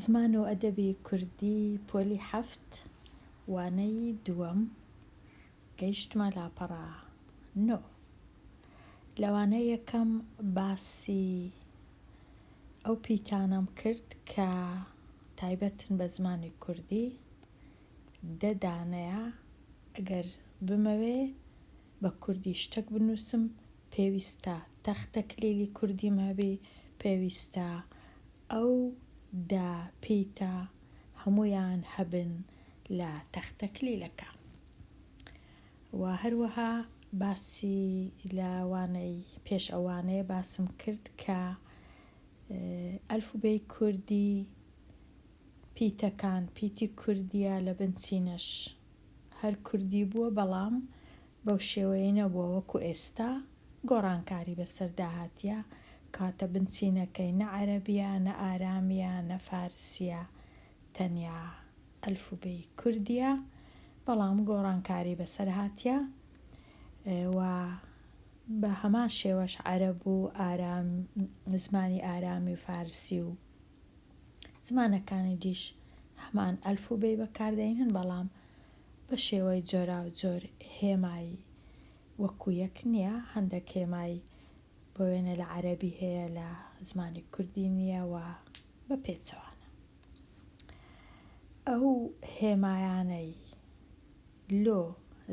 زمان و ئەدەبی کوردی پۆلی حەفت وانەی دووەم گەیشتمە لاپەڕە نۆ لە وانەی یەکەم باسی ئەو پیتانەم کرد کە تایبەتن بە زمانی کوردی دە دانەیە ئەگەر بمەوێ بە کوردی شتەک بنووسم پێویستە تەختە کلیلی کوردیم هەبی پێویستە ئەو دە پیتە هەموویان هەبن لە تەختە کلیلەکە و هەروەها باسی لە وانەی پێش ئەو وانەیە باسم کرد کە ئەلفوبێی کوردی پیتەکان پیتی کوردیە لە بنچینەش هەر کوردی بووە بەڵام بەو شێوەیە نەبووە وەکو ئێستا گۆڕانکاری بەسەردا هاتیە کەواتە بنچینەکەی نە عەرەبیە نە ئارامیە نە فارسیە تەنیا ئەلفوبێی کوردیە بەڵام گۆڕانکاری بەسەر هاتیە و بەهەمان شێوەش عەرەب و ئارام زمانی ئارامی و فارسی و زمانەکانی دیش هەمان ئەلف و بێی بەکاردێنن بەڵام بە شێوەی جۆراوجۆر هێمای وەکو یەک نییە هەندێک هێمای بۆ وێنە لە عەرەبی هەیە لە زمانی کوردی نییە و بە پێچەوانە ئەو هێمایانەی لۆ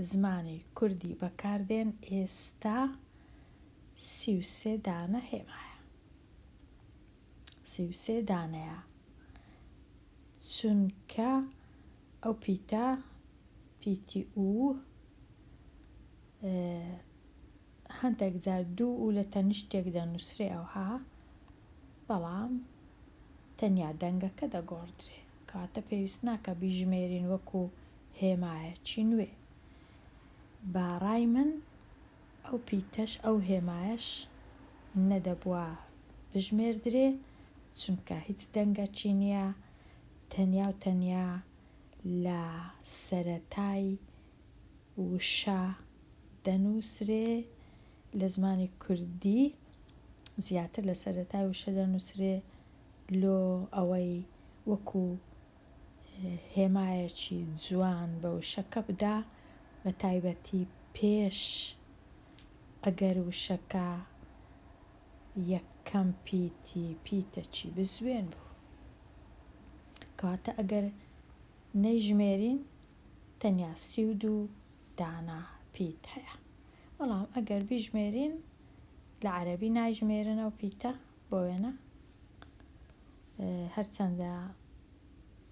زمانی کوردی بەکاردێن ئێستا سی و سێ دانە هێمایە سی و سێ دانەیە چونکە ئەو پیتە پیتی ئو هەندێک جار دوو و لە تەنیشتێک دەنووسرێ ئەوها بەڵام تەنیا دەنگەکە دەگۆڕدرێ کاتە پێویست ناکە بیژمێرین وەکو هێمایەکی نوێ باڕای من ئەو پیتەش ئەو هێمایەش نەدەبوا بژمێردرێ، چونکە هیچ دەنگەکی نییە، تەنیا و تەنیا لە سەرەتای وشە دەنووسرێ، لە زمانی کوردی زیاتر لە سەرەتای وشە دەنووسرێ لۆ ئەوەی وەکوو هێمایەکی جوان بە وشەکە بدا بە تایبەتی پێش ئەگەر وشەکە یەکەم پیتی پیتەکی بزوێن بوو کەواتە ئەگەر نەیژمێرین تەنیا سی و دوو دانا پیت هەیە بەڵام ئەگەر بیژمێرین لە عەرەبی نایژمێرنەوە پیتە بۆ وێنە هەرچەندە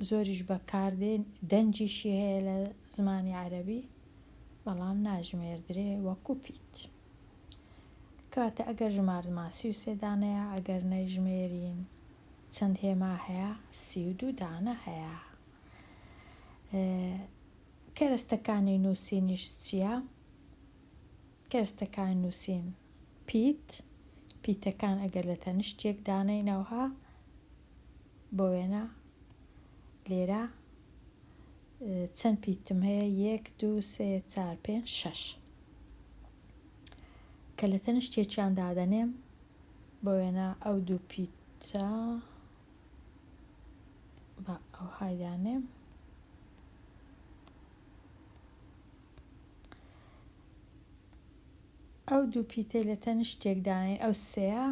زۆریش بەکاردێن دەنجیشی هەیە لە زمانی عەربی بەڵام ناژمێردرێ وەکو پیت کاتە ئەگەر ژماردمان سی و سێدانەیە ئەگەر نەژمێرین چەند هێما هەیە سی و دوو دانە هەیە کەرەستەکانی نووسینیش چییە؟ کەرستەکان نووسین، پیت، پیتەکان ئەگەر لە تەنشت یەک دانەینەوه، بۆ وێنە لێرە چەند پیتم هەیە، یەک، دوو، سێ، چار، پێنج، شەش. کە لە تەنشت یەکیان دادەنێم، بۆ وێنە ئەو دوو پیتە با ئەوهای دانێم، ئەو دوو پیتەی لە تەنیشتێکدانین ئەو سێیە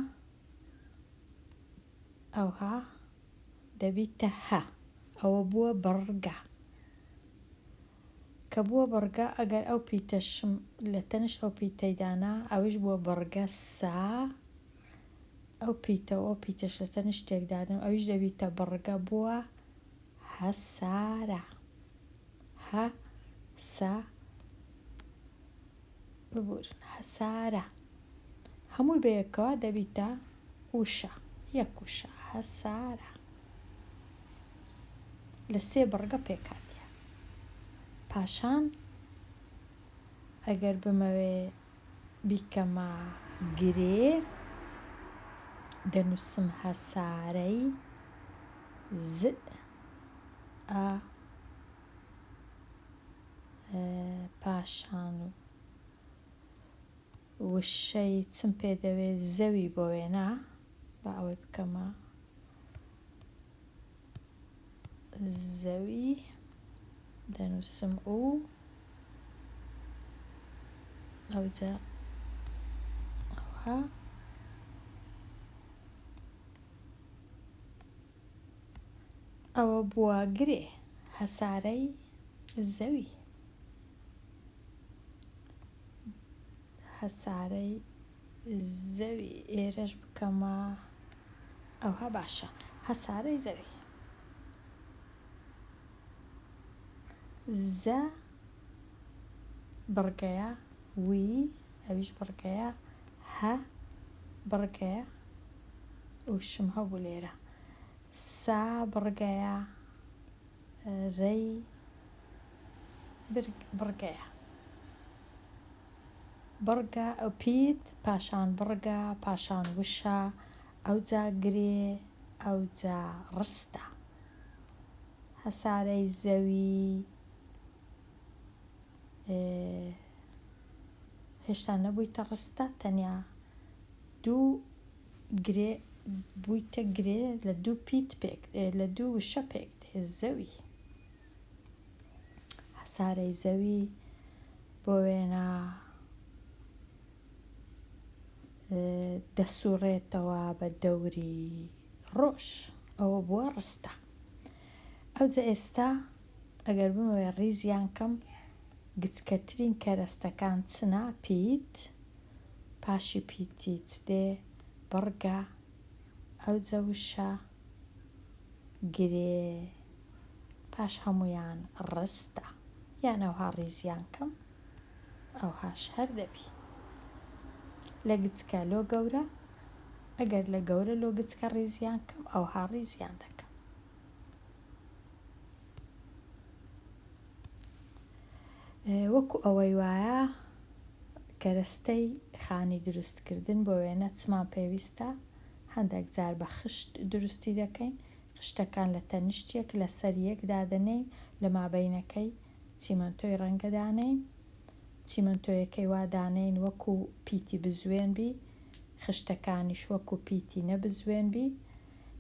ئەوها دەبیتە هە ئەوە بووە بڕگە کە بووە بڕگە ئەگەر ئەو پیتەشم لە تەنیشت ئەو پیتەیدانا ئەوش بووە بڕگە سا ئەو پیتەوە ئەو پیتەش لە تەنیشتێکدادم ئەوش دەبیتە بڕگە بووە هە سا رە هە سە ببورن هەسارە هەمووی بەیەکەوە دەبیتە وشە یەک وشە هەسارە لە سێ بڕگە پێکاتە پاشان ئەگەر بمەوێ بیکەمە گرێ دەنووسم هەسارەی ز ئە پاشان وشەی چم پێ دەوێ زەوی بۆ وێنە با ئەوەی بکەمە زەوی دەنووسم و ئەوجا ئەوها ئەوە بووە گرێ هەسارەی زەوی هەسارەی زەوی ئێرەش بکەمە ئەوها باشە هەسارەی زەوی. زە بڕگەیە وی ئەویش بڕگەیە هە بڕگەیە ئوشم هەبوو لێرە سا بڕگەیە رەی بڕگەیە. بڕگە پیت پاشان بڕگە پاشان وشە ئەوجا گرێ ئەوجا ڕستە هەسارەی زەوی هێشتا نەبوویتە ڕستە تەنیا دوو گرێ بوویتە گرێ لە دوو پیت پێک لە دوو وشە پێک دێ زەوی هەسارەی زەوی بۆ وێنە دەسوڕێتەوە بە دەوری ڕۆژ ئەوە بووە ڕستە ئەوجە ئێستا ئەگەر بمەوێ ڕیزیان کەم گچکەترین کەرەستەکان چنا پیت پاشی پیتی چ دێ بڕگە ئەوجە وشە گرێ پاش هەموویان ڕستە یان ئەوها ڕیزیان کەم ئەوهاش هەر دەبی لە گچکە لۆ گەورە ئەگەر لە گەورە لۆ گچکە ڕیزیان کەم ئەوها ڕیزیان دەکەم وەکو ئەوەی وایە کەرەستەی خانی دروستکردن بۆ وێنە چمان پێویستە هەندێک جار بە خشت دروستی دەکەین، خشتەکان لە تەنیشت یەک لەسەر یەک دادەنێین، لە مابەینەکەی چیمەنتۆی ڕەنگە دانێین، چیمەنتۆیەکەی وا دانێین وەکو پیتی بزوێن بی، خشتەکانیش وەکو پیتی نە بزوێن بی،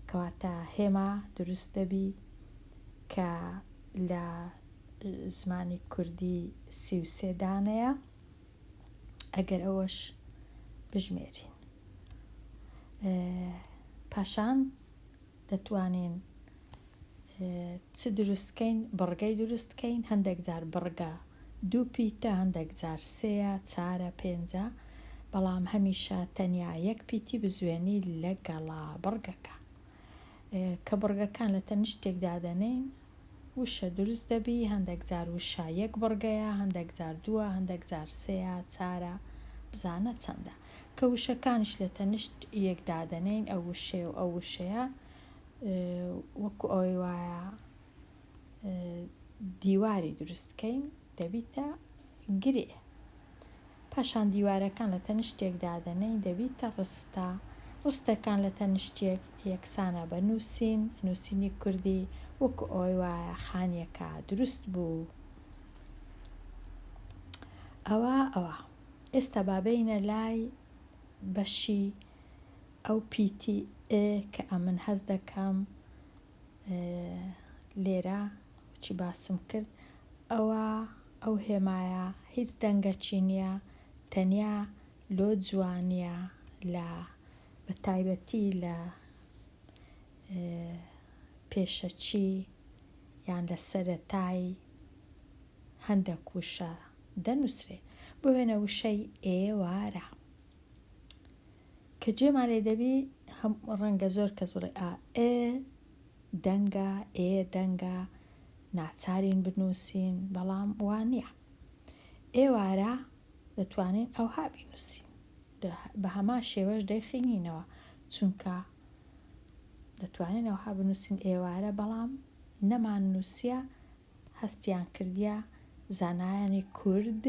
کەواتە هێما دروست دەبی کە لە زمانی کوردی سی و سێ دانەیە. ئەگەر ئەوەش بژمێرین پاشان دەتوانین چ دروستکەین بڕگەی دروستکەین هەندێک جار بڕگە دوو پیتە هەندێک جار سێە چارە پێنجە بەڵام هەمیشە تەنیا یەک پیتی بزوێنی لە گەڵا بڕگەکە کە بڕگەکان لە تەنیشت تێکدا دەنێین وشە دروست دەبی هەندێک جار وشە یەک بڕگەیە هەندێک جار دووە هەندێک جار سێە چارە بزانە چەندە کە وشەکانش لە تەنیشت یەکدا دەنێین ئەو وشەیە و ئەو وشەیە وەکو ئەوەی وایە دیواری دروستکەین دەبیتە گرێ پاشان دیوارەکان لە تەنیشتێک دادەنێین دەبیتە ڕستە، ڕستەکان لە تەنیشتێک یەکسانە بە نووسین، نووسینی کوردی وەکو ئەوەی وایە خانییەکە دروست بوو. ئەوە ئەوە. ئێستا با بێینە لای بەشی ئەو پیتی ئێ کە ئەمن هەست دەکەم لێرە چی باسم کرد ئەوە ئەو هێمایە هیچ دەنگەکی نییە تەنیا لۆ جوانە لە بە تایبەتی لە پێشەکی یان لە سەرەتایی هەندە کوشە دەنووسێ بۆێنە وشەی ئێوارە. کە جێمان لێ دەبی هەم ڕەنگە زۆر کەس بڵێ ئا ئێ دەنگە ئێ دەنگە ناچارین بنووسین بەڵام وا نییە ئێوارە دەتوانین ئەوها بینووسین بە هەما شێوەش دەیخینینەوە چونکە دەتوانین ئەوها بنووسین ئێوارە بەڵام نەمان نووسە هەستیان کردیە زانایانی کورد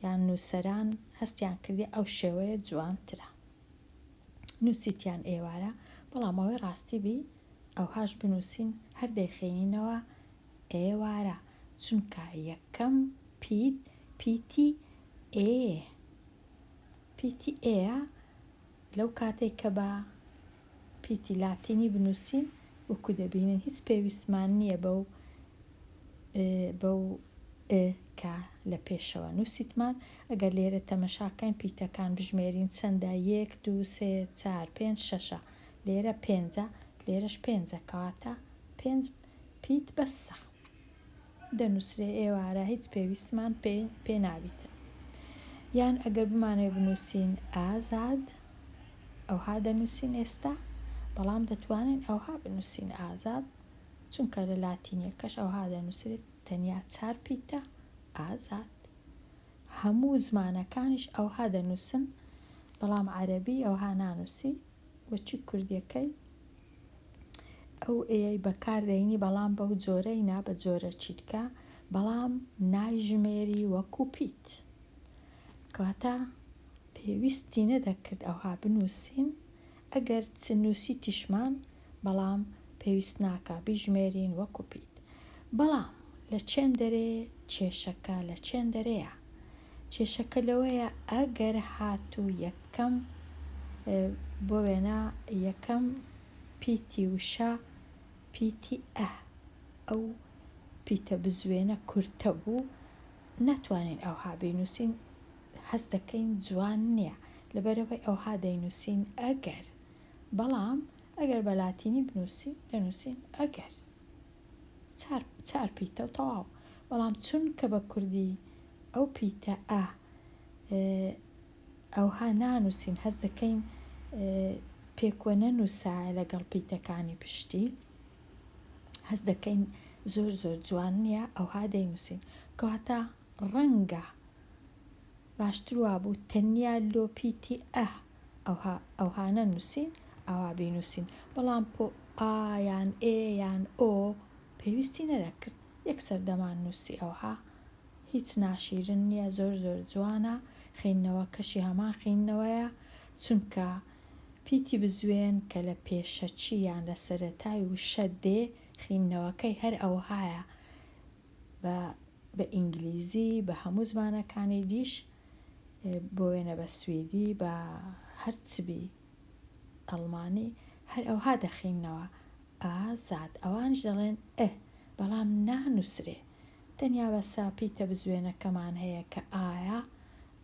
یان نووسەران هەستیان کردی ئەو شێوەیە جوانترە نووسیتیان ئێوارە بەڵام ئەوەی ڕاستی بی ئەوهاش بنووسین هەر دەیخێنینەوە ئێوارە چونکە یەکەم پیت پیتی ئێ پیتی ئێە لەو کاتێک کە بە پیتی لاتینی بنووسین وەکو دەبینن هیچ پێویستمان نییە بەو بەو ئ کە لە پێشەوە نووسیتمان ئەگەر لێرە تەمەشاکەین پیتەکان بژمێرین چەندە یەک دوو سێ چار پێنج شەشە لێرە پێنجە لێرەش پێنجە کەواتە پێنج پیت بەسە. دەنووسرێ ئێوارە هیچ پێویستمان پێ پێ نابیتن یان ئەگەر بمانەوێ بنووسین ئازاد ئەوها دەنووسین ئێستا بەڵام دەتوانین ئەوها بنووسین ئازاد چونکە لە لاتینیەکەش ئەوها دەنووسرێت تەنیا چار پیتە ئازاد هەموو زمانەکانیش ئەوها دەنووسن بەڵام عەرەبی ئەوها نانووسی وەچی کوردیەکەی ئەو ئێیەی بەکار دەینی بەڵام بەو جۆرەی نا بە جۆرە چیتکە بەڵام نایژمێری وەکو پیت کەواتە پێویستی نەدەکرد ئەوها بنووسین ئەگەر چ نووسی تیشمان بەڵام پێویست ناکە بیژمێرین وەکو پیت بەڵام لە چێن دەرێ کێشەکە لە چێن دەرەیە کێشەکە لەوەیە ئەگەر هاتوو یەکەم بۆ وێنە یەکەم پیتی وشە پیتی ئە ئەو پیتە بزوێنە کورتە بوو ناتوانین ئەوها بینووسین هەست دەکەین جوان نییە لەبەرەوەی ئەوها دەینووسین ئەگەر بەڵام ئەگەر بە لاتینی بنووسین دەنووسین ئەگەر. چار چار پیتە و تەواو بەڵام چونکە بە کوردی ئەو پیتە ئە ئەوها نانووسین هەست دەکەین پێکوە نەنووسایە لەگەڵ پیتەکانی پشتی هەست دەکەین زۆر زۆر جوان نییە ئەوها دەینووسین کەواتە ڕەنگە باشتر وابوو تەنیا لۆ پیتی ئە ئەوها ئەوها نەنووسین ئاوا بینووسین بەڵام پۆ ئا یان ئێ یان ئۆ پێویستی نەدەکرد یەکسەر دەماننووسی ئەوها هیچ ناشیرن نییە زۆر زۆر جوانە خیندنەوەکەشی هەمان خیندنەوەیە چونکە پیتی بزوێن کە لە پێشەکی یان لە سەرەتای وشە دێ خیندنەوەکەی هەر ئەوهایە بە بە ئینگلیزی بە هەموو زمانەکانی دیش بۆ وێنە بە سویدی بە هەر چ بی ئەڵمانی هەر ئەوها دەخیننەوە ئازاد ئەوانیش دەڵێن ئە بەڵام نانووسرێ تەنیا بە ساپیتە بزوێنەکەمان هەیە کە ئایا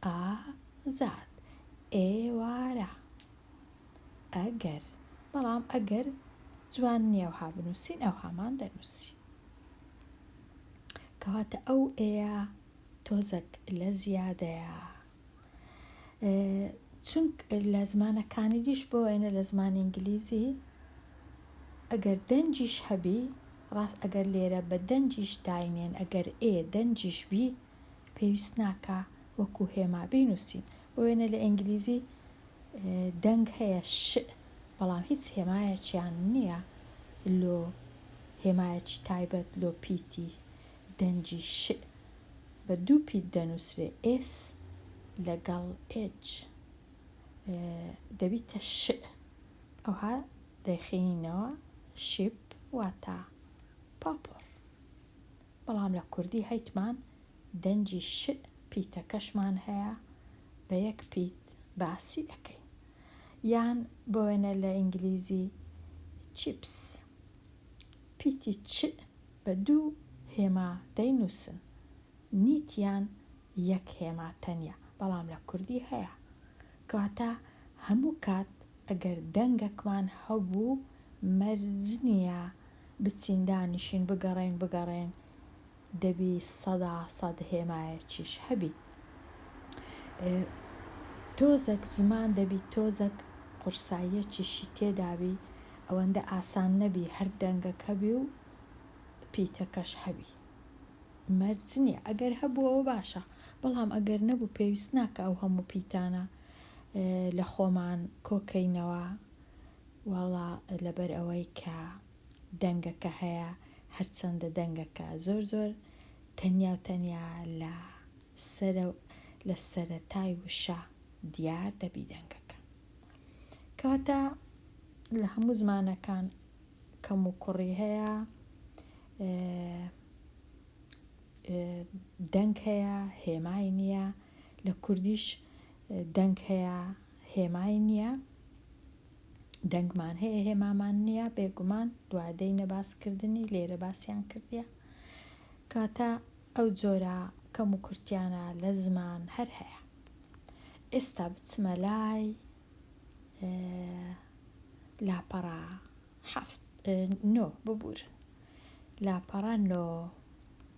ئازاد ئێوارە ئەگەر بەڵام ئەگەر جوان نییە وها بنووسین ئەوهامان دەنووسی کەواتە ئەو ئێە تۆزەک لە زیادەیە چونک لە زمانە کانیدیش بۆ وێنە لە زمانی ئینگلیزی ئەگەر دەنجیش هەبی ڕاست ئەگەر لێرە بە دەنجیش داینێن ئەگەر ئێ دەنجیش بی پێویست ناکا وەکو هێما بینووسین بۆ وێنە لە ئینگلیزی دەنگ هەیە ش بەڵام هیچ هێمایەکیان نییە لۆ هێمایەکی تایبەت لۆ پیتی دەنگی ش بە دوو پیت دەنووسرێ S لەگەڵ H دەبیتە ش ئەوها دەیخینینەوە شیپ واتا پاپۆڕ بەڵام لە کوردی هەیتمان دەنگی ش پیتەکەشمان هەیە بە یەک پیت باسی ئەکەین یان بۆ وێنە لە ئینگلیزی چیپس پیتی چ بە دوو هێما دەینووسن. نیت یان یەک هێما تەنیا، بەڵام لە کوردی هەیە. کەواتە هەموو کات ئەگەر دەنگەکمان هەبوو، مەرج نییە بچین دانیشین بگەڕێین بگەڕێین، دەبی سەدا سەد هێمایەکیش هەبی. تۆزەک زمان دەبی تۆزەک قورساییەکیشی تێدابی، ئەوەندە ئاسان نەبی هەر دەنگەک هەبی و پیتەکەش هەبی مەرج نیە ئەگەر هەبوو ئەوە باشە بەڵام ئەگەر نەبوو پێویست ناکە ئەو هەموو پیتانە لە خۆمان کۆکەینەوە واڵا لەبەر ئەوەی کە دەنگەکە هەیە هەرچەندە دەنگەکە زۆر زۆر تەنیا و تەنیا لە سەرە لە سەرەتای وشە دیار دەبی دەنگەکە کەواتە لە هەموو زمانەکان کەم و کوڕی هەیە دەنگ هەیە هێمای نییە لە کوردیش دەنگ هەیە هێمای نییە دەنگمان هەیە هێمامان نییە بێگومان دوادەی نەباسکردنی لێرە باسییان کردە کاتە ئەو جۆرە کەم و کورتیانە لە زمان هەر هەیە ئێستا بچمە لای لاپەڕە حەفت نۆ ببورن لاپەڕە نۆ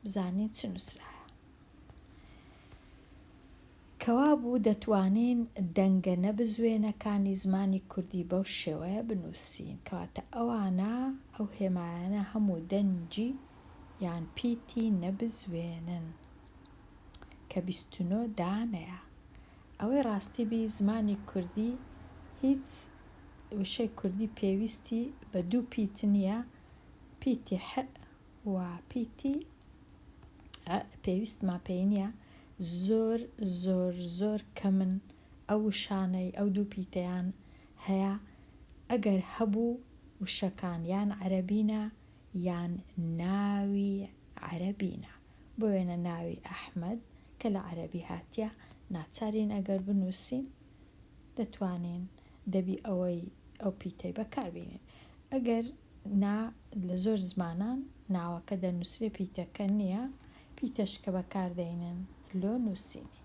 بزانین چ نووسرایە کەوا بوو دەتوانین دەنگە نەبزوێنەکانی زمانی کوردی بەو شێوەیە بنووسین کەواتە ئەوانە ئەو هێمایانە هەموو دەنجی یان پیتی نەبزوێنن کە بیستنۆ دانەیە ئەوەی ڕاستی بی زمانی کوردی هیچ وشەی کوردی پێویستی بە دوو پیت نییە، پیتی ح و پیتی ع پێویستمان پێی نییە، زۆر زۆر زۆر کەمن ئەو وشانەی ئەو دوو پیتەیان هەیە، ئەگەر هەبوو وشەکان یان عەرەبینە یان ناوی عەرەبینە بۆ وێنە ناوی ئەحمەد کە لە عەرەبی هاتیە ناچارین ئەگەر بنوسین دەتوانین دەبی ئەوەی ئەو پیتەی بەکار بینین ئەگەر نا لە زۆر زمانان ناوەکە دەنوسرێ پیتەکە نیە پیتەش کە بەکار دەینن لۆ نوسینی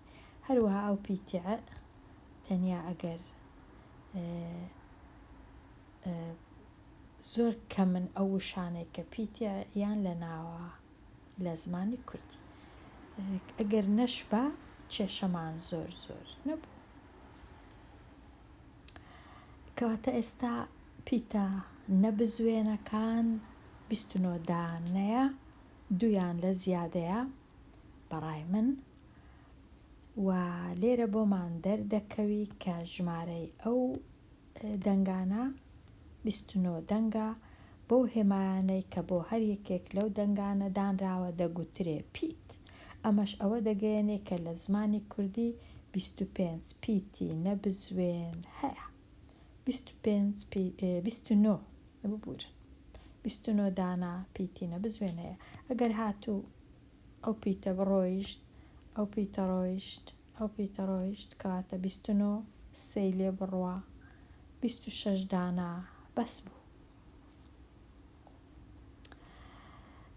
هەروەها ئەو پیتە تەنیا ئەگەر زۆر کەمن ئەو وشانەی کە پیتە یان لە ناوە لە زمانی کوردی. ئەگەر نەشبا کێشەمان زۆر زۆر نەبوو. کەواتە ئێستا پیتە نە بزوێنەکان بیست و نۆ دانەیە، دوویان لە زیادەیە بەڕای من و لێرە بۆمان دەردەکەوی کە ژمارەی ئەو دەنگانە بیست و نۆ دەنگە، بەو هێمایانەی کە بۆ هەر یەکێک لەو دەنگانە دانراوە دەگوترێ پیت، ئەمەش ئەوە دەگەیەنێ کە لە زمانی کوردی بیست و پێنج پیتی نەبزوێن هەیە. بیست و پێنج پی، بیست و نۆ، ببورن، بیست و نۆ دانە پیتی نەبزوێن هەیە. ئەگەر هاتوو ئەو پیتە بڕۆیشت، ئەو پیتە ڕۆیشت. ئەو پیتەڕۆیشت کاتە بیست و نۆ سێی لێ بڕوا بیست و شەش دانا بەس بوو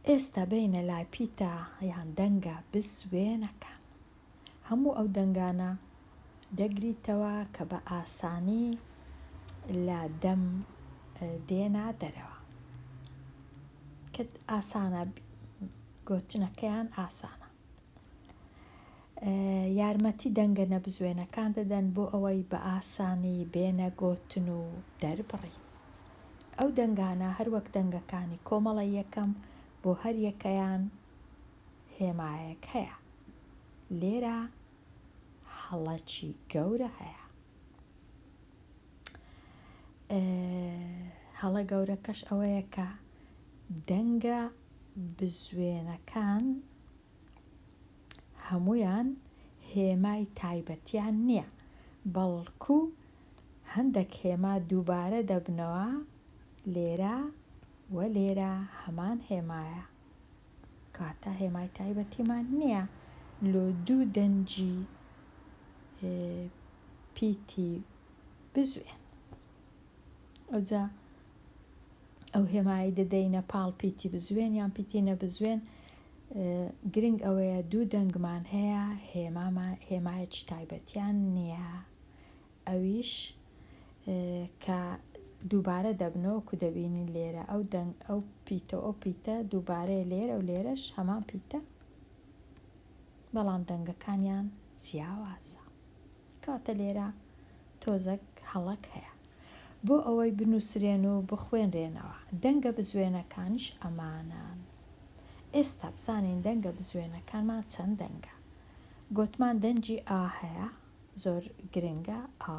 ئێستا بینە لای پیتە یان دەنگە بزوێنەکان هەموو ئەو دەنگانە دەگریتەوە کە بە ئاسانی لە دەم دێنا دەرەوە کە ئاسانە گۆتنەکەیان ئاسانە یارمەتی دەنگە نەبزوێنەکان دەدەن بۆ ئەوەی بە ئاسانی بێنە گۆتن و دەربڕین ئەو دەنگانە هەروەک دەنگەکانی کۆمەڵە یەکەم بۆ هەر یەکەیان هێمایەک هەیە لێرە هەڵەکی گەورە هەیە هەڵە گەورەکەش ئەوەیە کە دەنگە بزوێنەکان هەموویان هێمای تایبەتیان نییە، بەڵکو هەندەک هێما دووبارە دەبنەوە، لێرە و لێرە هەمان هێمایە، کەواتە هێمای تایبەتیمان نییە لۆ دوو دەنگی پیتی بزوێن. ئەوجا ئەو هێمایی دەدەینە پاڵ پیتی بزوێن یان پیتی نەبزوێن گرنگ ئەوەیە دوو دەنگمان هەیە هێماما هێمایەکی تایبەتیان نییە ئەویش کە دووبارە دەبنەوە کو دەبینین لێرە ئەو دەنگ ئەو پیتە ئەو پیتە دووبارەیە لێرە و لێرەش هەمان پیتە بەڵام دەنگەکانیان جیاوازە کاتە لێرە تۆزەک هەڵەک هەیە بۆ ئەوەی بنوسرێن و بخوێنرێنەوە دەنگە بزوێنەکانیش ئەمانەن ئێستا بزانین دەنگە بزوێنەکانمان چەند دەنگە گۆتمان دەنگی ئا هەیە زۆر گرنگە ئا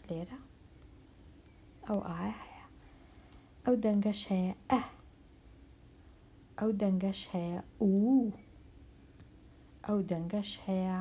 لێرە ئەو ئا هەیە ئەو دەنگەش هەیە ئە ئەو دەنگەش هەیە و ئەو دەنگەش هەیە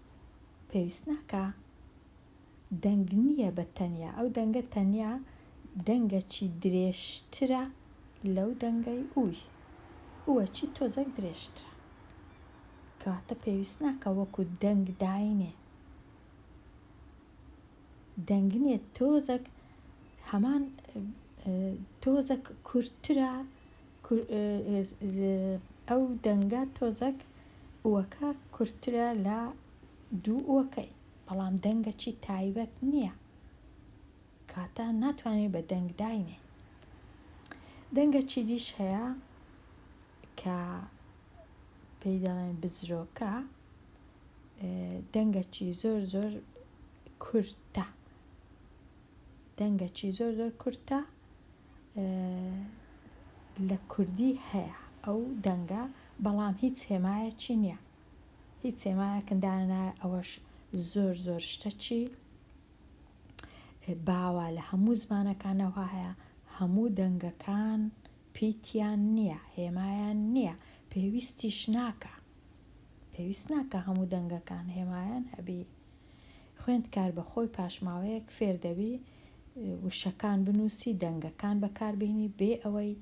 پێویست ناکا دەنگ نیە بە تەنیا ئەو دەنگە تەنیا دەنگەچی درێژترە لەو دەنگەی ئوی ئوەچی تۆزەک درێژترە کەواتە پێویست ناکا وەکو دەنگ داینێ دەنگنێ تۆزەک هەمان تۆزەک کورترە ئەو دەنگە تۆزەک ئوەکە کورترە لە دوو ئوەکەی بەڵام دەنگەچی تایبەت نییە کاتە ناتوانێت بە دەنگ داینێ دەنگە چی دیش هەیە کە پێی دەڵێن بزرۆکە دەنگەچی زۆر زۆر کورتە دەنگەچی زۆر زۆر کورتە لە کوردی هەیە ئەو دەنگە بەڵام هیچ هێمایەکی نییە هیچ هێمایەکندانە ئەوەش زۆر زۆر شتەچی باوە لە هەموو زمانەکانەوە هەیە هەموو دەنگەکان پیتیان نییە هێمایان نییە پێویستیش ناکە پێویست ناکا هەموو دەنگەکان هێمایان هەبی خوێندکار بە خۆی پاشماوەیەک فێر دەبی وشەکان بنووسی دەنگەکان بەکاربیێنی بێ ئەوەی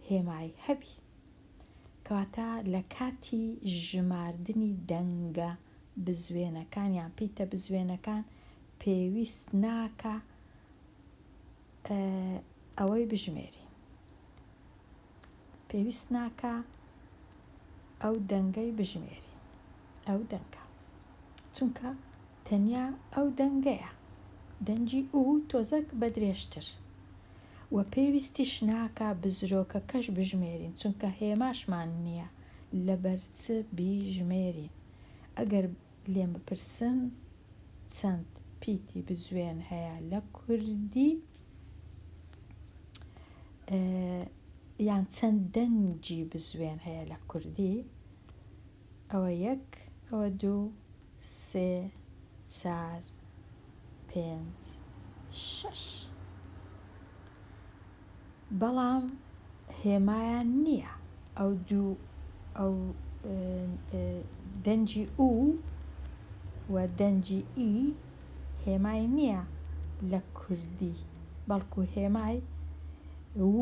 هێمای هەبی کەواتە لە کاتی ژماردنی دەنگە بزوێنەکان یان پیتە بزوێنەکان پێویست ناکە ئەوەی بژمێری پێویست ناکا ئەو دەنگەی بژمێرین ئەو دەنگە چونکە تەنیا ئەو دەنگەیە دەنگی ئوو تۆزەک بە درێژتر و پێویستیش ناکا بزرۆکەکەش بژمێرین چونکە هێماشمان نییە لەبەر چ بیژمێرین ئەگەر لێم بپرسن چەند پیتی بزوێن هەیە لە کوردی یان چەند دەنگی بزوێن هەیە لە کوردی ئەوە یەک ئەوە دوو سێ چار پێنج شەش بەڵام هێمایان نییە ئەو دوو ئەو دەنجی ئو و دەنجی ئی هێمای نییە لە کوردی بەڵکو هێمای و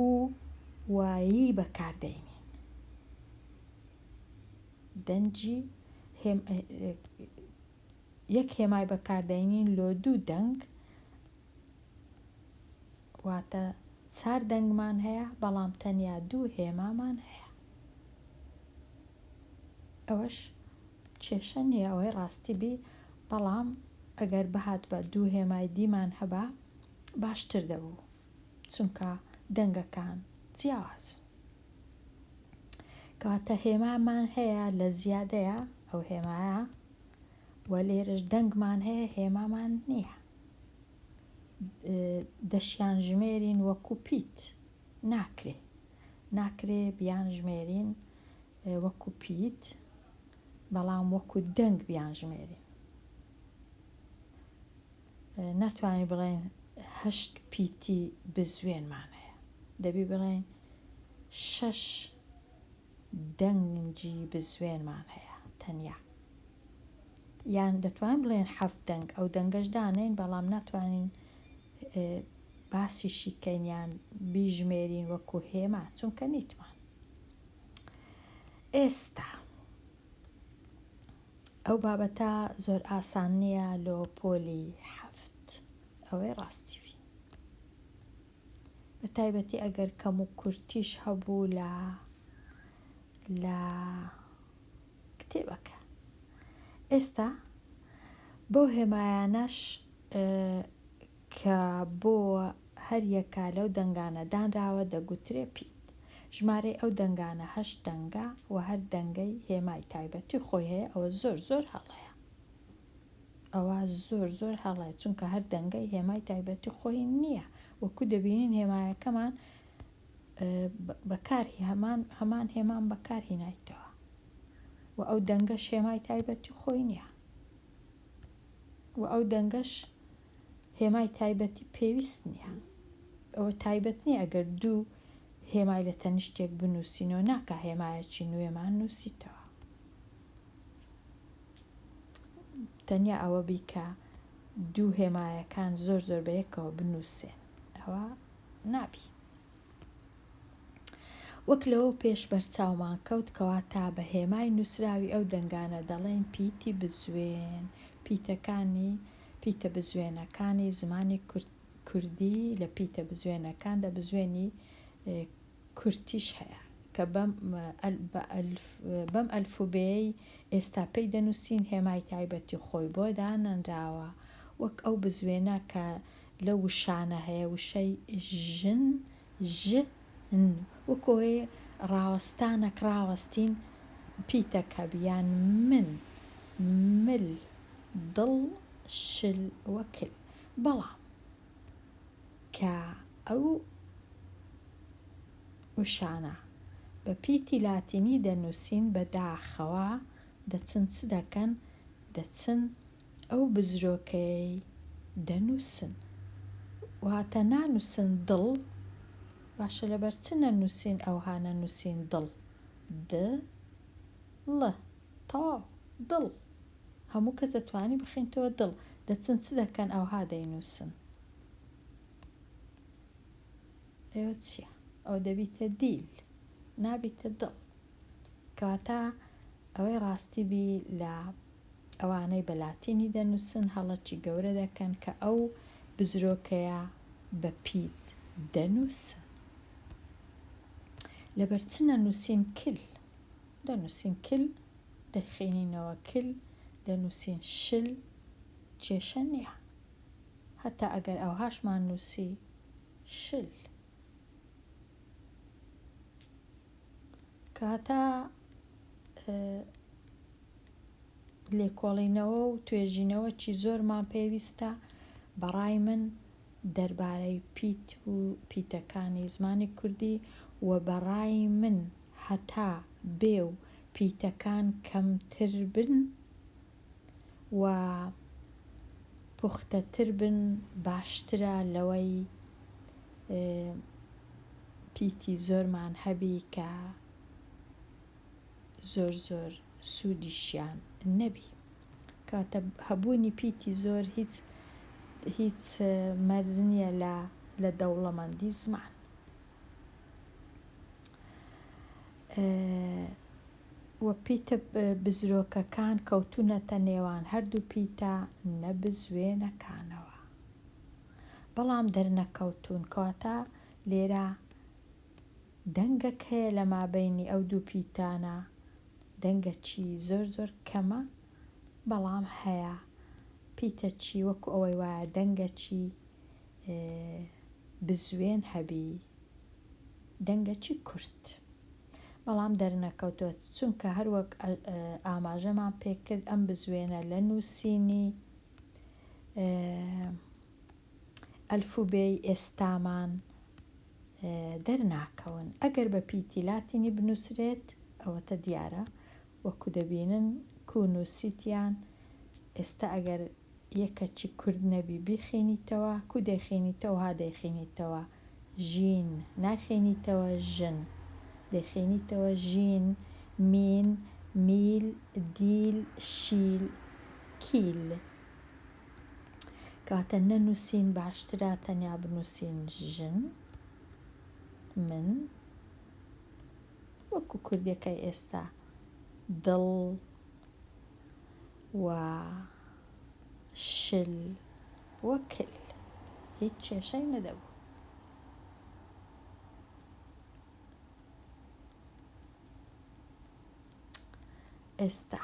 و ی بەکاردێنین دەنجی یەک هێمای بەکاردێنین لۆ دوو دەنگ واتە چار دەنگمان هەیە بەڵام تەنیا دوو هێمامان هەیە ئەوەش کێشە نییە ئەوەی ڕاستی بی بەڵام ئەگەر بهات بە دوو هێمای دیمان هەبا باشتر دەبوو چونکە دەنگەکان جیاواز کەواتە هێمامان هەیە لە زیادەیە ئەو هێمایە و لێرش دەنگمان هەیە هێمامان نییە دەشیانژمێرین وەکو پیت ناکرێ ناکرێ بیانژمێرین وەکو پیت بەڵام وەکو دەنگ بیانژمێرین ناتوانین بڵێن هەشت پیتی بزوێنمان هەیە دەبی بڵێن شەش دەنگی بزوێنمان هەیە تەنیا یان دەتوانین بڵێن حەفت دەنگ ئەو دەنگەش دانێین بەڵام ناتوانین باسیشی کەینیان بیژمێرین وەکو هێما چونکە نیتمان ئێستا ئەو بابەتە زۆر ئاسان نییە لۆ پۆلی حەفت ئەوەی ڕاستیوی بە تایبەتی ئەگەر کەم و کورتیش هەبوو لە لە کتێبەکە ئێستا بەو هێمایانەش کە بۆ هەریەکە لەو دەنگانە دانراوە دەگوترێ پیت ژمارەی ئەو دەنگانە هەش دەنگە و هەر دەنگەی هێمای تایبەتی خۆی هەیە ئەوە زۆر زۆر هەڵەیە ئەوە زۆر زۆر هەڵەیە چونکە هەر دەنگەی هێمای تایبەتی خۆی نییە وەکو دەبینین هێمایەکەمان بەکار هەمان هەمان هێمان بەکار هینایتەوە و ئەو دەنگەش هێمای تایبەتی خۆی نییە و ئەو دەنگەش هێمای تایبەتی پێویست نییە ئەوە تایبەت نییە ئەگەر دوو هێمای لە تەنیشتێک بنووسینەوە ناکە هێمایەکی نوێمان نووسیتەوە تەنیا ئەوە بیکە دوو هێمایەکان زۆر زۆر بە یەکەوە بنووسێ ئەوە نابی وەک لەوە پێش بەرچاومان کەوت کەوا تا بە هێمای نووسراوی ئەو دەنگانە دەڵێن پیتی بزوێن پیتەکانی پیتە بزوێنەکانی زمانی کوردی لە پیتە بزوێنەکان دە بزوێنی کورتیش هەیە کە بەم بەم ئەلفوبێیەی ئێستا پێی دەنووسین هێمای تایبەتی خۆی بۆ دانەنراوە وەک ئەو بزوێنە کە لەو وشانە هەیە وشەی ژن ژ ن وەکۆ ئێ ڕاوەستانەک ڕاوەستین پیتە کەب یان من مل دڵ شل وکل بەڵام کە ئەو وشانە بە پیتی لاتینی دەنووسین بە داخەوە دەچن چ دەکەن؟ دەچن ئەو بزرۆکەیەی دەنووسن. واتە نانووسن دڵ، باشە لەبەر چ نەنووسین ئەوها نەنووسین دڵ؟ د ڵ. تەواو. دڵ. هەموو کەس دەتوانی بخینتەوە دڵ. دەچن چ دەکەن ئەوها دەینووسن. ئێوە چیە؟ ئەوە دەبیتە دیل نابیتە دڵ. کەواتە ئەوەی ڕاستی بی لە ئەوانەی بە لاتینی دەنووسن هەڵەکی گەورە دەکەن کە ئەو بزرۆکەیە بە پیت دەنووسن. لەبەر چ نەنووسین کل؟ دەنووسین کل دەیخەینینەوە کل دەنووسین شل کێشە نییە هەتا ئەگەر ئەوهاشمان نووسی شل کەهەتا لێکۆڵینەوە و توێژینەوەی زۆرمان پێویستە بەڕای من دەربارەی پیت و پیتەکانی زمانی کوردی و بەڕای من هەتا بێ و پیتەکان کەمتر بن و پوختەتر بن باشترە لەوەی پیتی زۆرمان هەبی کە زۆر زۆر سوودیشیان نەبی کەواتە هەبوونی پیتی زۆر هیچ هیچ مەرج نییە لە لە دەوڵەمەندی زمان. و پیتە بزرۆکەکان کەوتوونەتە نێوان هەردوو پیتە نەبزوێنەکانەوە بەڵام دەرنەکەوتوون کەواتە لێرە دەنگەک هەیە لە مابینی ئەو دوو پیتانە دەنگەکی زۆر زۆر کەمە بەڵام هەیە پیتەچی وەکو ئەوەی وایە دەنگەکی بزوێن هەبی دەنگەچی کورت بەڵام دەرنەکەوتوە چونکە هەروەک ئاماژەمان پێکرد ئەم بزوێنە لە نووسینی ئەلفوبێی ئێستامان دەرناکەون ئەگەر بە پیتی لاتینی بنووسرێت ئەوەتە دیارە وەکو دەبینن کو نووسیتیان ئێستا ئەگەر یە کەچی کورد نەبی بیخینیتەوە کو دەیخینیتەوە ها دەیخینیتەوە ژین ناخینیتەوە ژن دەیخینیتەوە ژین مین میل دیل شیل کیل کەواتە نەنوسین باشترە تەنیا بنوسین ژن من وەکو کوردەکەی ئێستا دڵ و شل و کل هیچ کێشەی نەدەبوو. ئێستا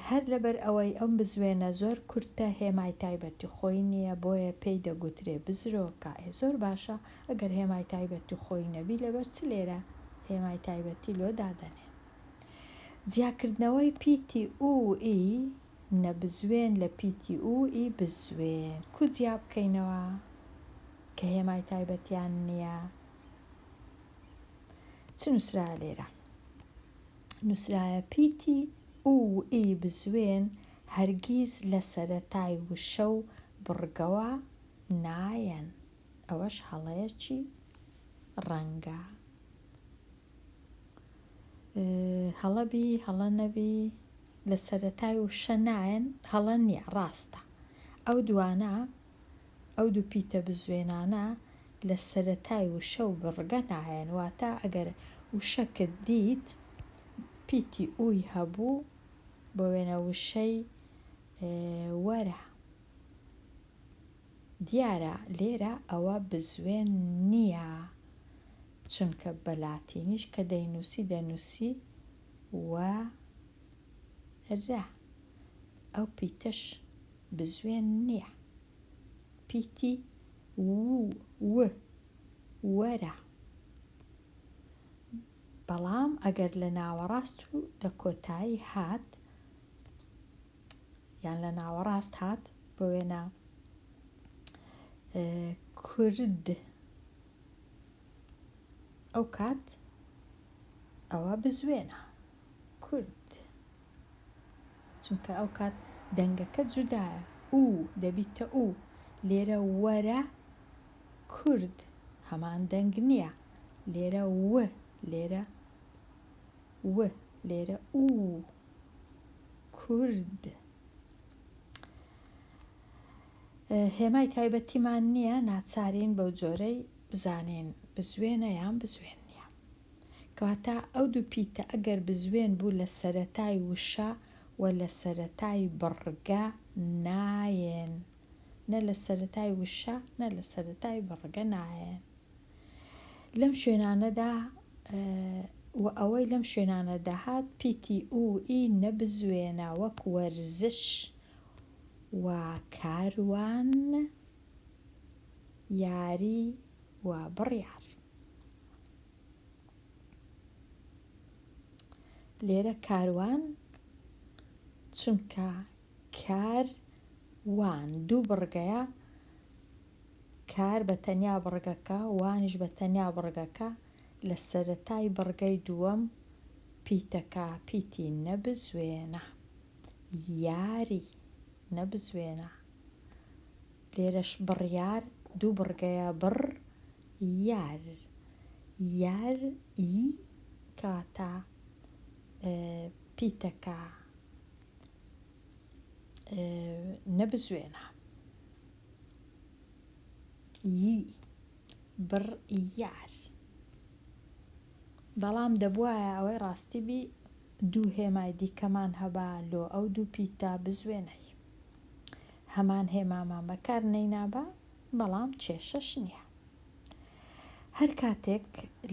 هەر لەبەر ئەوەی ئەم بزوێنە زۆر کورتە هێمای تایبەتی خۆی نییە بۆیە پێی دەگوترێ بزرۆکە ئێ زۆر باشە ئەگەر هێمای تایبەتی خۆی نەبی لەبەر چ لێرە هێمای تایبەتی لۆ دادەنێن جیاکردنەوەی پیتی ئوو ئی نەبزوێن لە پیتی ئوو ئی بزوێن کو جیابکەینەوە کە هێمای تایبەتیان نییە چ نووسرا لێرە نووسرایە پیتی ئوو ئی بزوێن هەرگیز لە سەرەتای وشە و بڕگەوە نایەن ئەوەش هەڵەیەکی ڕەنگە هەڵە بی هەڵە نەبی لە سەرەتای وشە نایەن هەڵە نییە ڕاستە ئەو دوانە ئەو دوو پیتە بزوێنانە لە سەرەتای وشە و بڕگە نایەن واتە ئەگەر وشەکت دیت پیتی ئوی هەبوو بۆ وێنە وشەی وەرە دیارە لێرە ئەوە بزوێن نییە، چونکە بە لاتینیش کە دەینووسی دەنووسی وە رە، ئەو پیتەش بزوێن نییە، پیتی وو و وەرە. بەڵام ئەگەر لە ناوەڕاست و لە کۆتایی هات، یان لە ناوەڕاست هات بۆ وێنە کورد ئەو کات ئەوە بزوێنە کورد چونکە ئەو کات دەنگەکە جودایە و دەبیتە و لێرە وەرە کورد هەمان دەنگ نییە لێرە و لێرە و لێرە و کورد هێمای تایبەتیمان نییە ناچارین بەو جۆرەی بزانین بزوێنە یان بزوێن نییە کەواتە ئەو دوو پیتە ئەگەر بزوێن بوو لە سەرەتای وشە و لە سەرەتای بڕگە نایێن نە لە سەرەتای وشە نە لە سەرەتای بڕگە نایێن لەم شوێنانەدا و ئەوەی لەم شوێنانە دەهات پیتی و ئی نەبزوێنە وەک وەرزش و کاروان یاری و بڕیار لێرە کاروان چونکە کار وان دوو بڕگەیە کار بە تەنیا بڕگەکە وانیش بە تەنیا بڕگەکە لە سەرەتای بڕگەی دووەم پیتەکە پیتی نەبزوێنە یاری نەبزوێنە لێرەش بڕیار دوو بڕگەیە بڕ یار یار ئی کاتە پیتەکە نەبزوێنە ی بڕ یار بەڵام دەبوایە ئەوەی ڕاستی بی دوو هێمای دیکەمان هەبا لۆ ئەو دوو پیتدا بزوێنەی هەمان هێمامان بەکار نەینابا بەڵام کێشەش نییە. هەر کاتێک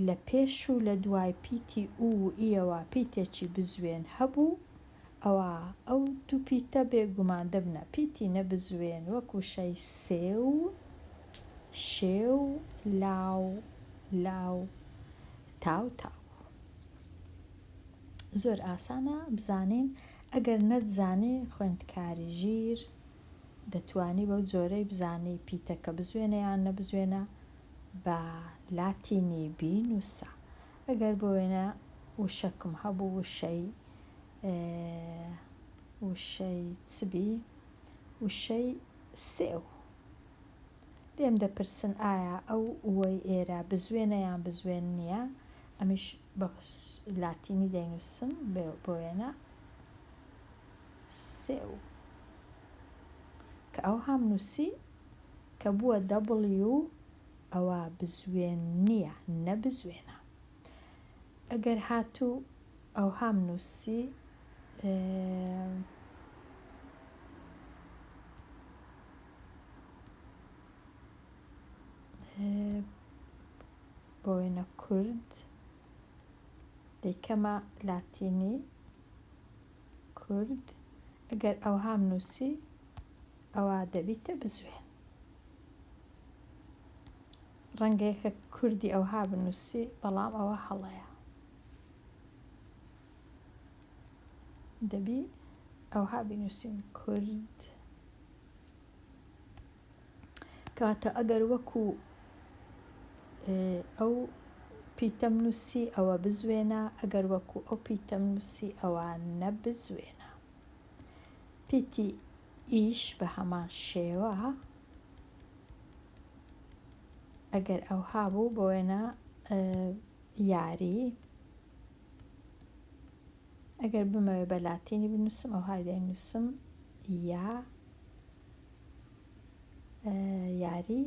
لە پێش و لە دوای پیتی ئو و ئیەوە پیتێکی بزوێن هەبوو، ئەوا ئەو دوو پیتە بێ گومان دەبنە پیتی نەبزوێن وەک وشەی سێو، شێو، لاو، لاو، تاو، تاو. زۆر ئاسانە بزانین ئەگەر نەتزانی خوێندکاری ژیر، دەتوانی بەو جۆرەی بزانی پیتەکە بزوێنە یان نەبزوێنە بە لاتینی بینووسە ئەگەر بۆ وێنە وشەکم هەبوو وشەی وشەی چبی وشەی سێو لێم دەپرسن ئایا ئەو وەی ئێرە بزوێنە یان بزوێن نییە ئەمیش بە لاتینی دەینووسم بۆ وێنە سێو کە ئەوهام نووسی کە بووە دەبڵیو ئەوا بزوێن نییە نە بزوێنە ئەگەر هاتوو ئەوهام نووسی بۆ وێنە کورد دەیکەمە لاتینی کورد ئەگەر ئەوهام نووسی ئەوا دەبیتە بزوێن ڕەنگە یەکە کوردی ئەوها بنووسی بەڵام ئەوە هەڵەیە دەبی ئەوها بنووسین کورد کاتە ئەگەر وەکو ئەو پیتەم نووسی ئەوە بزوێنە ئەگەر وەکو ئەو پیتەم نووسی ئەوە نەبزوێنە پیتی ئیش بە هەمان شێوە ئەگەر ئەو هابوو بۆ وێنە یاری ئەگەر بمەوێ بە لاتینی بنووسم ئەو هایدای نووسم یا یاری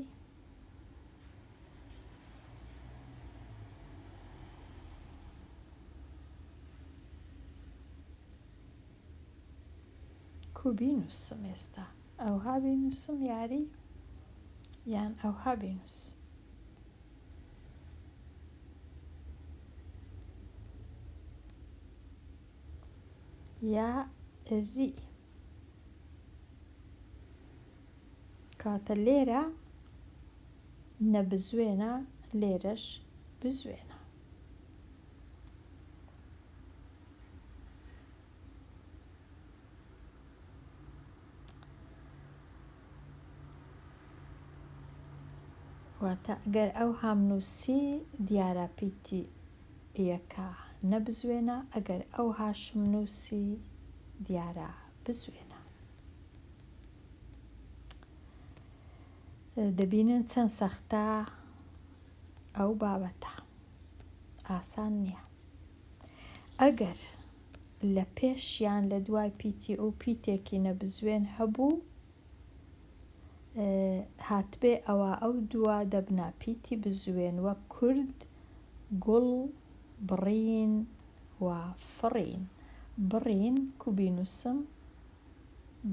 کو بینوسم ئێستا ئەوها بینوسم یاری یان ئەوها بینوس یا ری کاتە لێرە نەبزوێنە لێرەش بزوێنە. واتە گەر ئەو هامنووسی دیارە پیتی یەکە نەبزوێنە ئەگەر ئەو هاشم نوسی دیارە بزوێنە. دەبینن چەند سەختە ئەو بابەتە ئاسان نییە ئەگەر لە پێش یان لە دوای پیتی ئەو پیتێکی نەبزوێن هەبوو هاتبێ ئەوا ئەو دووە دەبنە پیتی بزوێن وەک کورد گوڵ بڕین و فڕین بڕین کو بینووسم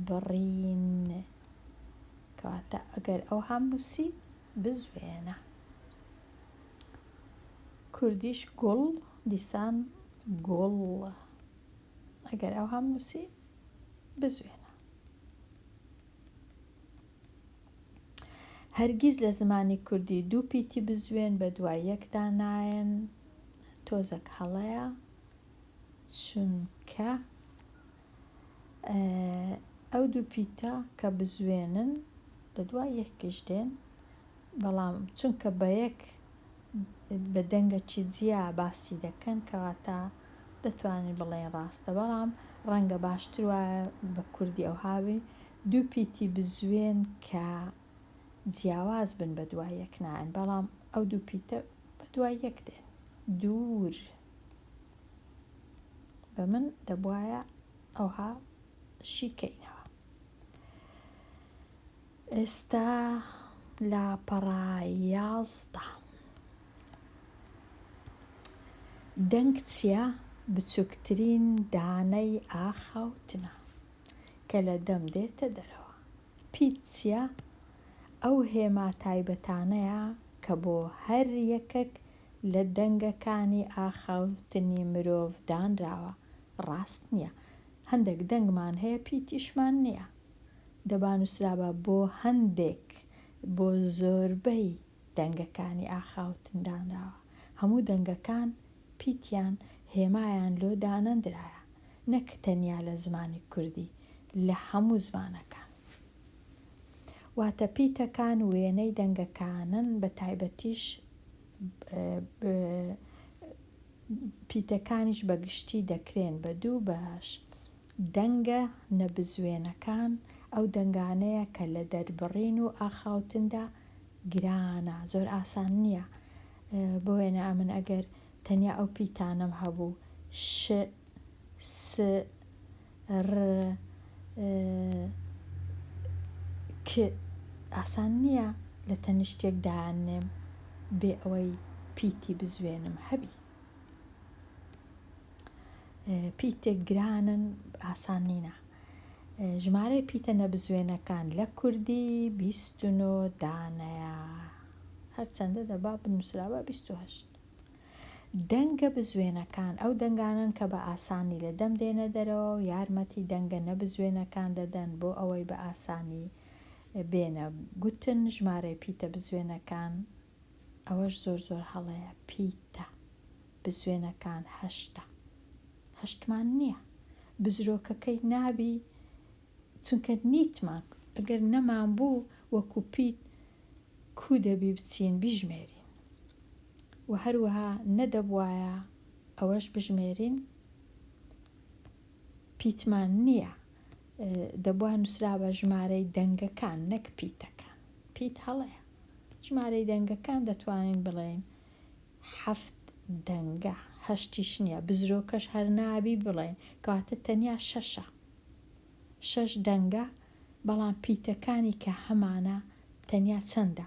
بڕین کەواتە ئەگەر ئەو هام نووسی بزوێنە کوردیش گوڵ دیسان گوڵ ئەگەر ئەو هەم نووسی بزوێنە هەرگیز لە زمانی کوردی دوو پیتی بزوێن بە دوای یەکدا نایەن تۆزەک هەڵەیە چونکە ئەو دوو پیتە کە بزوێنن لە دوای یەکیش دێن بەڵام چونکە بەیەک بە دەنگەکی جیا باسی دەکەن کەواتە دەتوانین بڵێین ڕاستە بەڵام ڕەنگە باشتر وایە بە کوردی ئەوهاوی دوو پیتی بزوێن کە جیاواز بن بە دوای یەک نایەن بەڵام ئەو دوو پیتە بە دوای یەک دێن دوور بە من دەبواە ئەوها شیکەینەوە ئێستا لاپەڕە یازدە. دەنگ چیە بچوکترین دانەی ئاخاوتنە کە لە دەم دێتە دەرەوە. پیت چیە ئەو هێما تایبەتانەیە کە بۆ هەر یەکەک لە دەنگەکانی ئاخاوتنی مرۆڤ دانراوە. ڕاست نیە. هەندەک دەنگمان هەیە پیتیشمان نیە. دەبا نووسرابا بۆ هەندێک بۆ زۆربەی دەنگەکانی ئاخاوتن دانراوە، هەموو دەنگەکان پیتیان هێمایان لۆ دانەندرایە، نەک تەنیا لە زمانی کوردی، لە هەموو زمانەکان. واتە پیتەکان وێنەی دەنگەکانن بە تایبەتیش پیتەکانیش بە گشتی دەکرێن بە دوو بەش، دەنگە نەبزوێنەکان ئەو دەنگانەیە کە لە دەربڕین و ئاخاوتندا گرانە، زۆر ئاسان نییە. بۆ وێنە ئەمن ئەگەر تەنیا ئەو پیتانەم هەبوو، ش، س، ر، ک، ئاسان نییە لە تەنیشتێک دایاننێم بێ ئەوەی پیتی بزوێنم هەبی. پیتێک گرانن ئاسان نینە. ژمارەی پیتە نەبزوێنەکان لە کوردی بیست و نۆ دانەیە هەرچەندە دەبا بنووسرابە بیست و هەشت. دەنگە بزوێنەکان ئەو دەنگانن کە بە ئاسانی لە دەم دێنە دەرەوە و یارمەتی دەنگە نەبزوێنەکان دەدەن بۆ ئەوەی بە ئاسانی بێنە گوتن ژمارەی پیتە بزوێنەکان ئەوەش زۆر زۆر هەڵەیە پیتە بزوێنەکان هەشتە هەشتمان نییە بزرۆکەکەی نابی چونکە نیتمان ئەگەر نەمان بوو وەکو پیت کو دەبی بچین بیژمێرین و هەروەها نەدەبوایە ئەوەش بژمێرین پیتمان نییە دەبوا نوسرابا ژمارەی دەنگەکان نەک پیتەکان پیت هەڵەیە ژمارەی دەنگەکان دەتوانین بڵێین حەفت دەنگە هەشتیش نییە بزرۆکەش هەر نابی بڵێین کەواتە تەنیا شەشە شەش دەنگە بەڵام پیتەکانی کە هەمانە تەنیا چەندە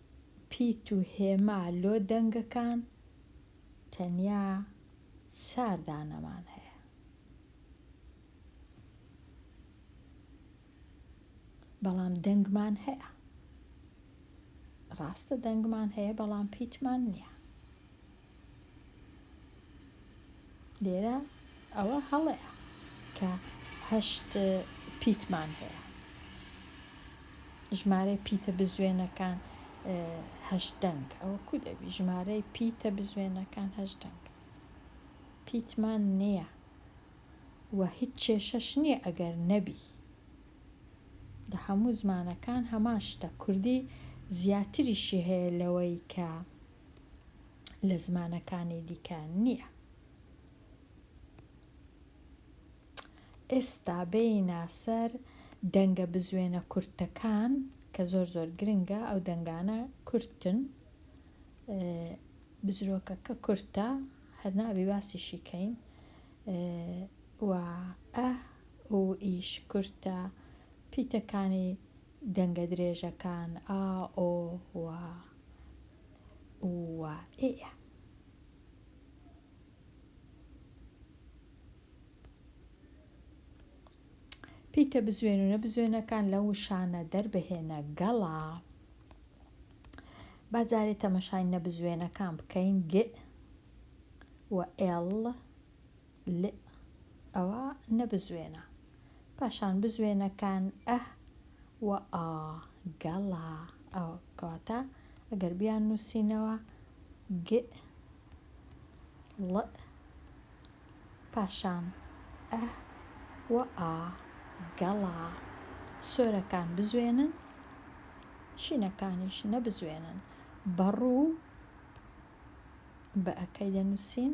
پیت و هێما لۆ دەنگەکان تەنیا چار دانەمان هەیە. بەڵام دەنگمان هەیە. ڕاستە دەنگمان هەیە بەڵام پیتمان نییە. لێرە ئەوە هەڵەیە کە هەشت پیتمان هەیە. ژمارەی پیتە بزوێنەکان هەشت دەنگ ئەوە کو دەبی ژمارەی پیتە بزوێنەکان هەشت دەنگ پیتمان نییە و هیچ کێشەش نییە ئەگەر نەبی لە هەموو زمانەکان هەمان شتە کوردی زیاتریشی هەیە لەوەی کە لە زمانەکانی دیکە نییە. ئێستا بێینە سەر دەنگە بزوێنە کورتەکان کە زۆر زۆر گرنگە ئەو دەنگانە کورتن بزرۆکە کە کورتە هەرنابی باسی شیکەین و ئە و ئیش کورتە پیتەکانی دەنگە درێژەکان ئا ئۆ و و ئێە. پیتە بزوێنونە بزوێنەکان لە وشانە دەربهێنە گەڵا با جارێ تەمەشای نەبزوێنەکان بکەین گ و ئێڵ لئ ئەوە نەبزوێنە پاشان بزوێنە کان ئە و ئا گە ڵا ئە کەواتە ئەگەر بیان نوسینەوە گئ ڵئ پاشان ئە و ئا گە ڵا سۆرەکان بزوێنن شینەکانیش نەبزوێنن بە ڕوو بئ کەی دەنوسین؟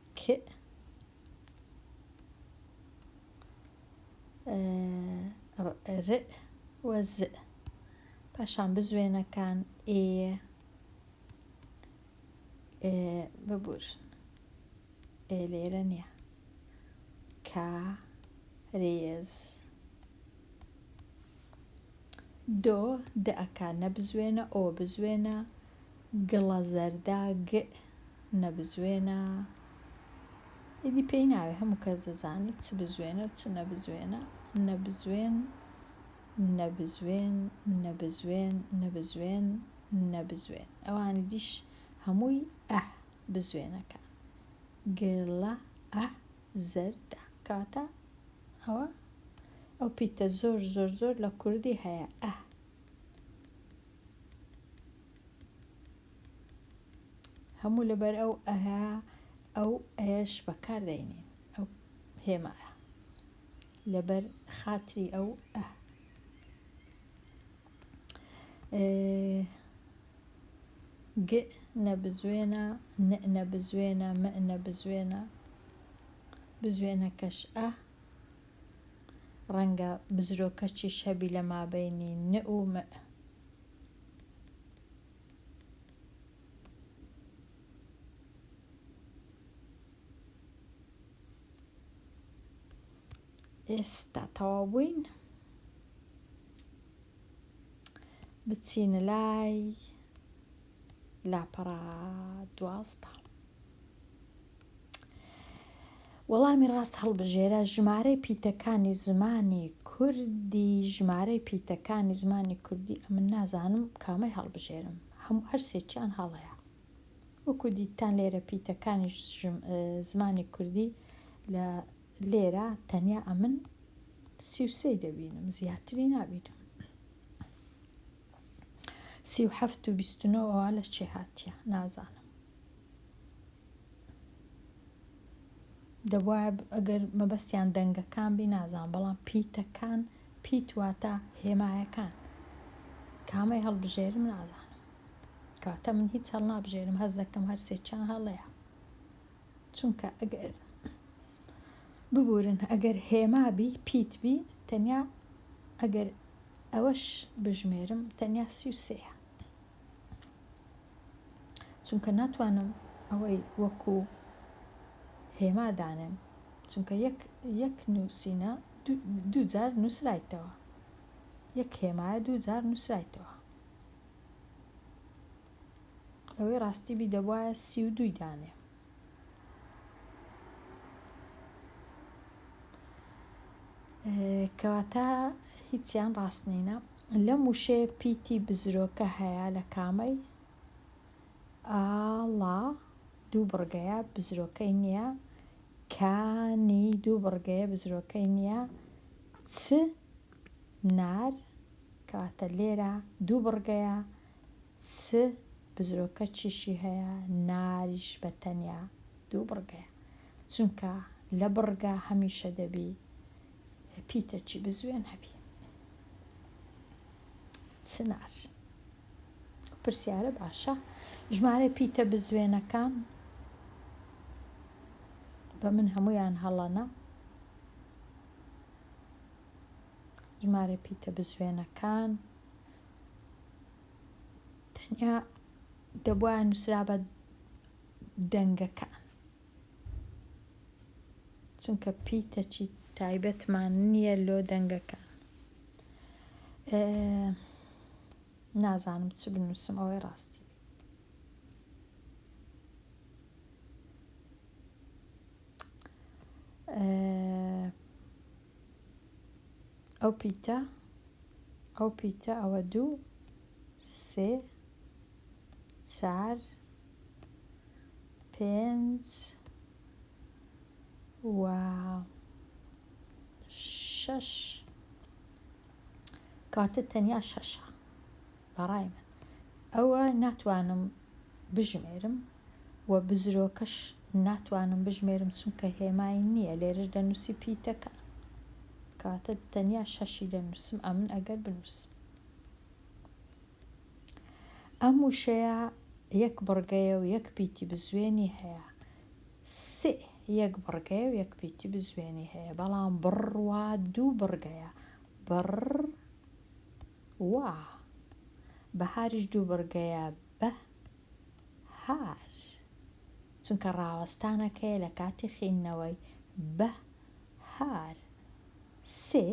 ک ر ئ و ز پاشان بزوێنەکان ئێ ئێ ببورن ئێ لێرە نیە کا رێز دۆ دەکا نەبزوێنە ئۆ بزوێنە گڵە زەردە گئ نەبزوێنە ئیدی پێی ناوێ هەموو کەس دەزانێت چ بزوێنە و چ نەبزوێنە نەبزوێن نەبزوێن نەبزوێن نەبزوێن نەبزوێن ئەوانی دیش هەمووی ئە بزوێنەکان گڵە ئە زەردە کاتە ئەوە ئەو پیتە زۆر زۆر زۆر لە کوردی هەیە ئە هەموو لەبەر ئەو ئەهە ئەو ئەش بەکار دەینین ئەو هێمە لەبەر خاتری ئەو ئە گ نەبزوێنە نە بزوێنە مە نە بزوێنە بزوێنەکەش ئە ڕەنگە بزرۆکەچیش هەبی لە مابەینی ن و م. ئێستا تەواو بووین بچینە لای لاپەڕە دوازدە. وەڵامی ڕاست هەڵبژێرە ژمارەی پیتەکانی زمانی کوردی ژمارەی پیتەکانی زمانی کوردی ئەمن نازانم کامەی هەڵبژێرم هەموو هەرسێکیان هەڵەیە وەکو دیتان لێرە پیتەکانی زمانی کوردی لە لێرە تەنیا ئەمن سیوسەی دەبینم زیاتری نابینم سی و حەفت و بیست و نۆ ئەوە لە چێ هاتیە نازانم دەبواە ئەگەر مەبەستیان دەنگەکان بی نازان بەڵام پیتەکان پیت واتە هێمایەکان کامەی هەڵبژێرم نازانم کاتە من هیچ هەڵ نابژێرم هەز دەکەم هەر سێکیان هەڵەیە چونکە ئەگەر ببورن ئەگەر هێما بی پیت بی تەنیا ئەگەر ئەوەش بژمێرم تەنیا سی و سێە چونکە ناتوانم ئەوەی وەکو هێما دانێم چونکە یەک یەک نووسینە دوو جار نووسرایتەوە یەک هێمایە دوو جار نووسرایتەوە لەوەی ڕاستی بی دەبوایە سی و دووی دانێ. کەواتە هیچیان ڕاست نینە لەم وشەیە پیتی بزرۆکە هەیە لە کامەی ئاڵا دوو بڕگەیە بزرۆکەی نییە کانی دوو بڕگەیە بزرۆکەی نییە چ نار کەواتە لێرە دوو بڕگەیە چ بزرۆکەچیشی هەیە ناریش بە تەنیا دوو بڕگەیە چونکە لە بڕگە هەمیشە دەبی پیتەچی بزوێن هەبی چنار پرسیارە باشە ژمارە پیتە بزوێنەکان بە من هەمویان هەڵەنە ژمارە پیتە بزوێنەکان تەنیا دەبوایە نووسرابە دەنگەکان چونکە پیتەچی تایبەتمان نییە لۆ دەنگەکان نازانم چ بنووسم ئەوەی ڕاستی ئەو پیتە ئەو پیتە ئەوە دوو سێ چار پێنج و شەش کاتە تەنیا شەشە بەڕای من ئەوە ناتوانم بژمێرم و بزرۆکەش ناتوانم بژمێرم چونکە هێمای نییە لێرەش دەنووسی پیتەکە کەواتە تەنیا شەشی دەنووسم ئەمن ئەگەر بنووسم ئەم وشەیە یەک بڕگەیە و یەک پیتی بزوێنی هەیە سێ یەک بڕگەیە و یەک پیتی بزوێنی هەیە بەڵام بڕوا دوو بڕگەیە بڕ واه بەهاریش دوو بڕگەیە بە هار چونکە ڕاوەستانەکەیە لە کاتی خیندنەوەی بە هار سێ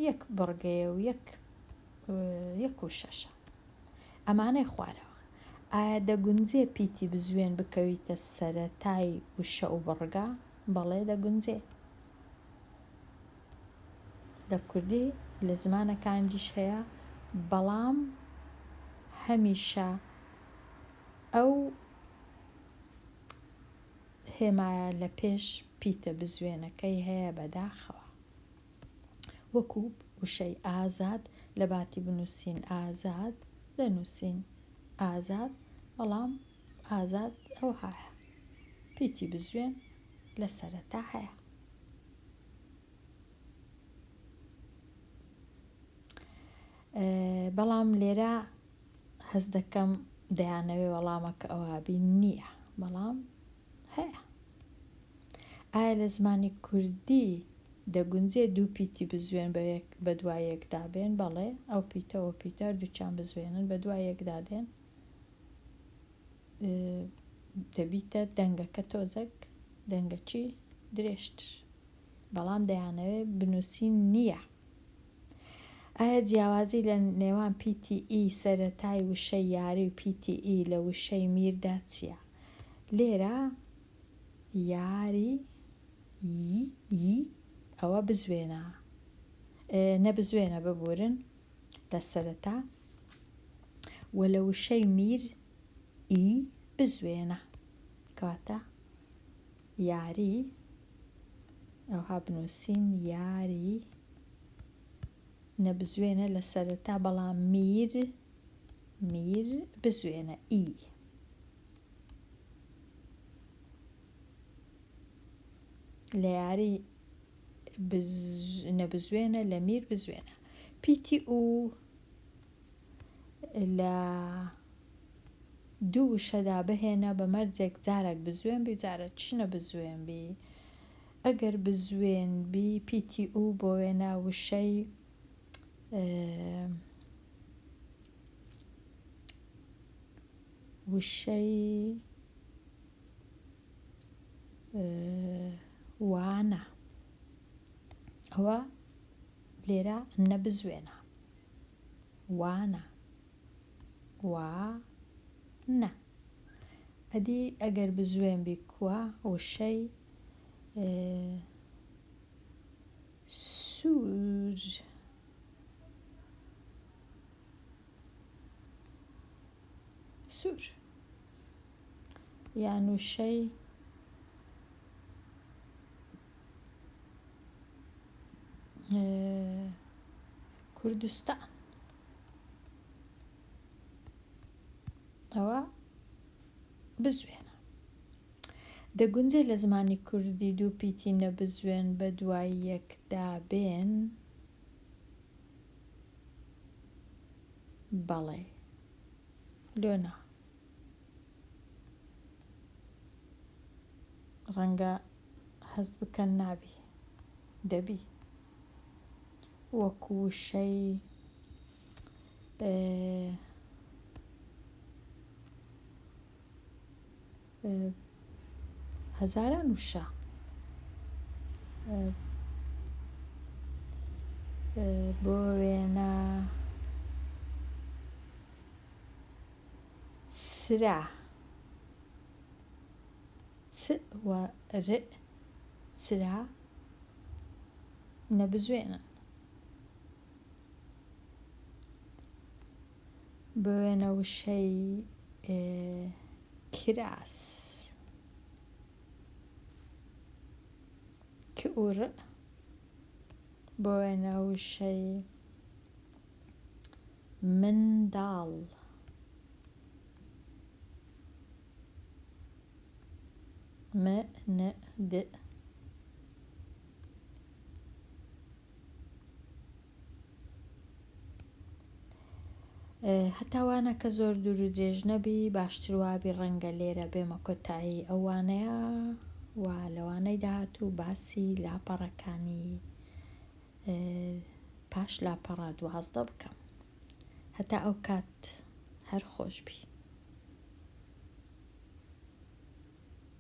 یەک بڕگەیە و یەک یەک و شەشە ئەمانەی خوارەوە ئایا دەگونجێ پیتی بزوێن بکەویتە سەرەتای وشە و بڕگە بەڵێ دەگونجێ لە کوردی لە زمانە کان دیش هەیە بەڵام هەمیشە ئەو هێمایە لە پێش پیتە بزوێنەکەی هەیە بەداخەوە وەکو وشەی ئازاد لە باتی بنووسین ئازاد دەنووسین ئازاد بەڵام ئازاد ئەو هاە پیتی بزوێن لە سەرەتا هەیە بەڵام لێرە هەست دەکەم دەیانەوێ وەڵامەکە ئەوابی نییە بەڵام هەیە ئایا لە زمانی کوردی دەگونجێ دوو پیتی بزوێن بە دوای یەکدا بێن بەڵێ ئەو پیتەوە پیتەر دووچان بزوێنن بە دوای یەکدا دێن دەبیتە دەنگەکە تۆزەک دەنگەچی درێژتر بەڵام دەیانەوێ بنووسین نییە ئایا جیاوازی لە نێوان پیتی ئی سەرەتای وشەی یاری و پیتی ئی لە وشەی میردا چییە لێرە یاری ی ئەوە بزوێنە نەبزوێنە ببورن لە سەرەتا وە لە وشەی میر ی بزوێنە کەواتە یاری ئەوها بنووسین یاری نەبزوێنە لە سەرەتا بەڵام میر میر بزوێنە ئی لە یاری نەبزوێنە لە میر بزوێنە پیتی و لە دوو وشەدا بهێنە بە مەرجێک جارێک بزوێن بی جارێک چی نەبزوێن بی ئەگەر بزوێن بی پیتی ئوو بۆ وێنە وشەی وشەی وانە ئەوە لێرە نەبزوێنە وا نا وا نا ئەدی ئەگەر بزوێن بی کوا وشەی سوور سوور یان وشەی کوردستان ئەوە بزوێنە دەگونجێ لە زمانی کوردی دوو پیتی نەبزوێن بە دوای یەکدا بێن بەڵێ لۆنا ڕەنگە هەست بکەن نابی، دەبی. وەک وشەی هەزاران وشە بۆ وێنە سرە چ و ر چرا نەبزوێنن بوێنە وشەی کراس ک و ر بوێنە وشەی منداڵ. مند. هەتا وانە کە زۆر دوور و درێژ نەبی باشتر وابی ڕەنگە لێرە بێمە کۆتایی ئەو وانەیە و لەوانەی داهاتوو باسی لاپەڕەکانی پاش لاپەڕە دوازدە بکەم هەتا ئەو کات هەر خۆشبی.